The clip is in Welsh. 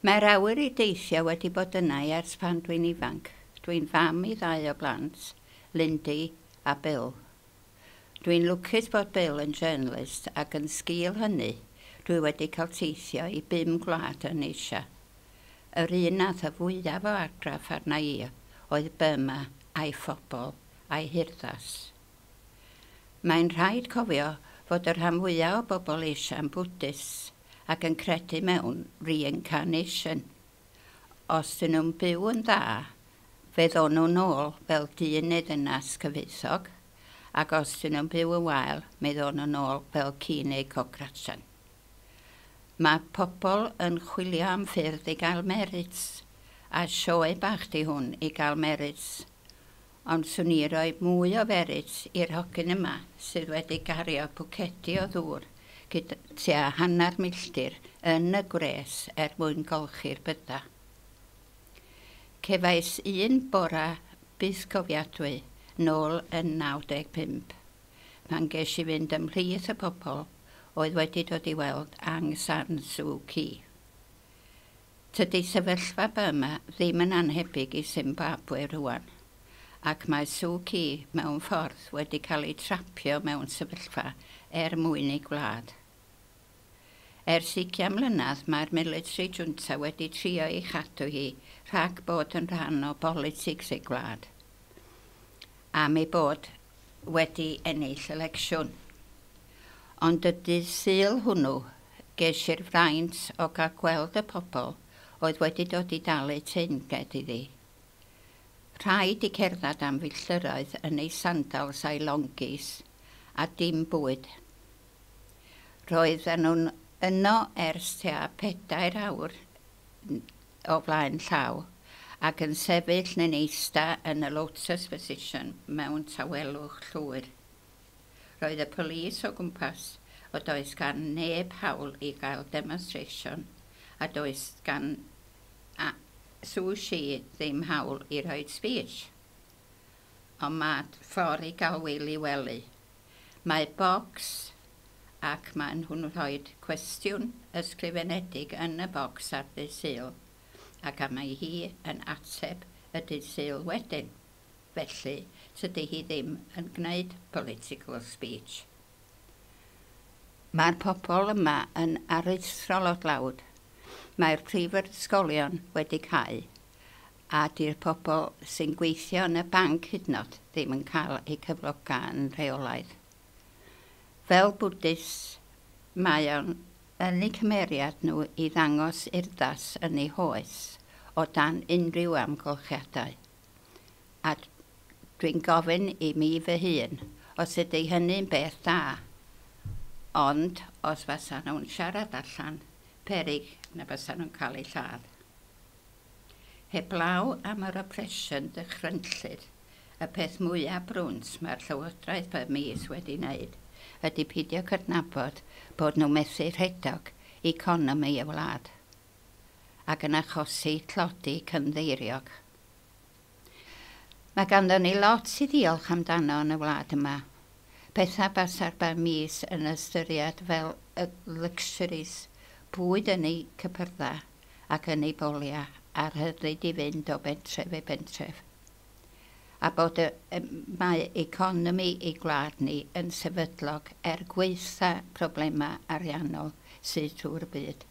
Mae'r awyr i deithio wedi bod yna i ers pan dwi'n ifanc. Dwi'n fam i ddau o blant, Lindy a Bill. Dwi'n lwcus bod Bill yn journalist ac yn sgil hynny dwi wedi cael teithio i bum gwlad yn Asia. Yr un nath y fwyaf o argraff arna i oedd Burma a'i phobl a'i hurddas. Mae'n rhaid cofio fod y rhan fwyaf o bobl Asia'n Bwdhist ac yn credu mewn reincarnation. Os 'dyn nhw'n byw yn dda, fe ddown nhw nôl fel dyn neu ddynas cyfoethog, ac os 'dyn nhw'n byw yn wael, mi ddown nhw nôl fel ci neu cocracjan. Mae pobl yn chwilio am ffyrdd i gael merits, a sioe bach di hwn i gael merits. Ond swn i roi mwy o ferits i'r hogyn yma sydd wedi gario pwcedi o ddŵr gyd tua hanner milltir yn y gwres er mwyn golchi'r bydda. Cefais un bora bythgofiadwy nôl yn 95 pan ges i fynd ymhlith y pobl oedd wedi dod i weld Aung San Suu Kyi. Tydi sefyllfa Burma ddim yn annhebyg i Simbabwe rŵan, ac mae Suu Kyi mewn ffordd wedi cael ei trapio mewn sefyllfa er mwyn ei gwlad. Ers ugian mlynedd mae'r military junta wedi trio ei chadw hi rhag bod yn rhan o bolitics ei gwlad, am ei bod wedi ennill elecsiwn. Ond y dydd Sul hwnnw, ges i'r fraint o gael gweld y pobl oedd wedi dod i dalu teyrnged iddi. Rhaid i cerdded am filltiroedd yn ei sandals a'i longis, a dim bwyd. Roedden nhw'n yno ers tua pedair awr, o flaen llaw, ac yn sefyll neu'n eista yn y lotus position mewn tawelwch llwyr. Roedd y police o gwmpas, o does gan neb hawl i gael demonstration, a does gan a Suu Kyi ddim hawl i roid speech. ond mae ffordd i gael Wil i wely. Mae bocs ac maen nhw'n rhoi cwestiwn ysgrifenedig yn y bocs ar ddydd Sul ac a mae hi yn ateb y dydd Sul wedyn. Felly, tydi hi ddim yn gwneud political speech. Mae'r pobl yma yn aruthrol o dlawd. Mae'r prifysgolion wedi cau a 'di'r pobl sy'n gweithio yn y banc hydnod ddim yn cael eu cyfloga yn rheolaidd. Fel Bwdhist, mae o'n yn eu cymeriad nhw i ddangos urddas yn eu hoes o dan unrhyw amgylchiadau. A dwi'n gofyn i mi fy hun os ydy hynny'n beth da, ond os fasa nhw'n siarad allan, peryg na fasa nhw'n cael eu lladd. Heblaw am yr oppresiwn dychrynllyd, y peth mwyaf brwnt mae'r Llywodraeth Burmese wedi wneud ydy peidio cydnabod bod nhw methu rhedog economi y wlad, ac yn achosi tlodi cynddeiriog. Mae ganddon ni lot i ddiolch amdano yn y wlad yma. Pethau basa'r bar mis yn ystyried fel y luxuries, bwyd yn eu cypyrddau ac yn eu boliau a'r rhyddid i fynd o bentref i bentref. A bod y mae economi ei gwlad ni yn sefydlog er gwaetha problemau ariannol sydd trwy'r byd.